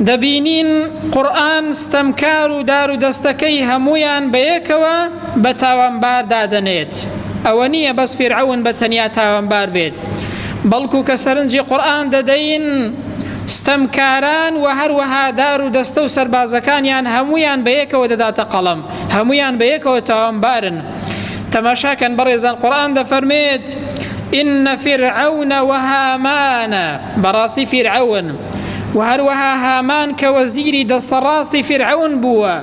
دەبینین قورئان ستەمکار و دار و دەستەکەی هەموویان بەیەکەوە بە تاوانبار دادەنێت ئەوە نییە بەس فیرعەون بە تەنیا تاوانبار بێت بەڵکو کە سەرنجی قورئان دەدەین ستەمکاران و هەروەها دار و دەستە و سەربازەکانیان هەمویان بە یەکەوە دەداتە قەڵم هەمویان بە یەکەوە تاوانبارن تەماشاکەن بەڕێزان قورآن دەفەرمێت إن فرعون وهامان بەڕاستی فیرعون و هەروەها هامان کە وەزیری دەستە ڕاستی فیرعەون بووە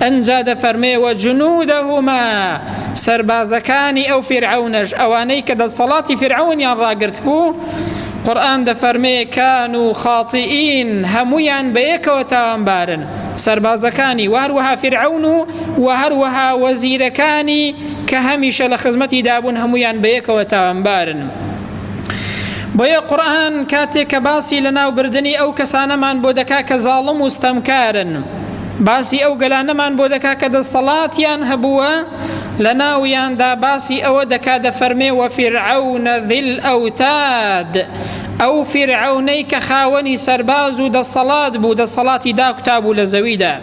ئەنجا دەفەرمێ وە جنودهما سەربازەکانی ئەو فیرعەونەش ئەوانەی کە دەسەڵاتی فیرعەونیان ڕاگرت بوو قورآن دەفەرمێ کان و خاتیئین هەمویان بەیەکەوە تاوانبارن سەربازەکانی و هەروەها فیرعەون و و هەروەها وەزیرەکانی کە هەمیشە لە خزمەتی دابوون هەمویان بەیەکەوە تاوانبارن بۆیە قورئان کاتێک کە باسی لەناوبردنی ئەو کەسانەمان بۆ دەکا کە زاڵم و ستەمکارن باسی ئەو گەلانەمان بۆ دەکا کە دەستەڵاتیان هەبووە لە ناویاندا باسی ئەوە دەکا دەفەرمێ وە فیرعەونە ذیل ئەوتاد ئەو فیرعەونەی کە خاوەنی سەرباز و دەستەڵات بوو دەستەڵاتی داکوتابوو لە زەویدا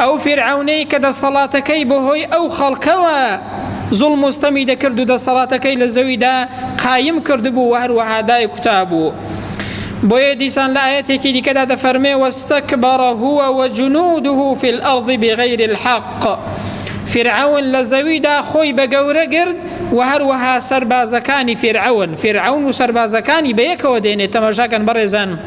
ئەو فیرعەونەی کە دەسەڵاتەکەی بەهۆی ئەو خەڵکەوە زوڵم و ستەمی دەکرد و دەسەڵاتەکەی لە زەویدا قایم کردبوو و هەروەها دایک کوتابوو بۆیە دیسان لە ئاەتێکی دیکەدا دەفەرمێ وەستەکبەڕە هووە وە جنودوه في الأرض بغير الحق فرعون لە زەویدا خۆی بە گەورە گرت و هەروەها سەربازەکانی فرعون فرعون و سەربازەکانی بەیەکەوە دێنێت تەمەشاکەن بەڕێزان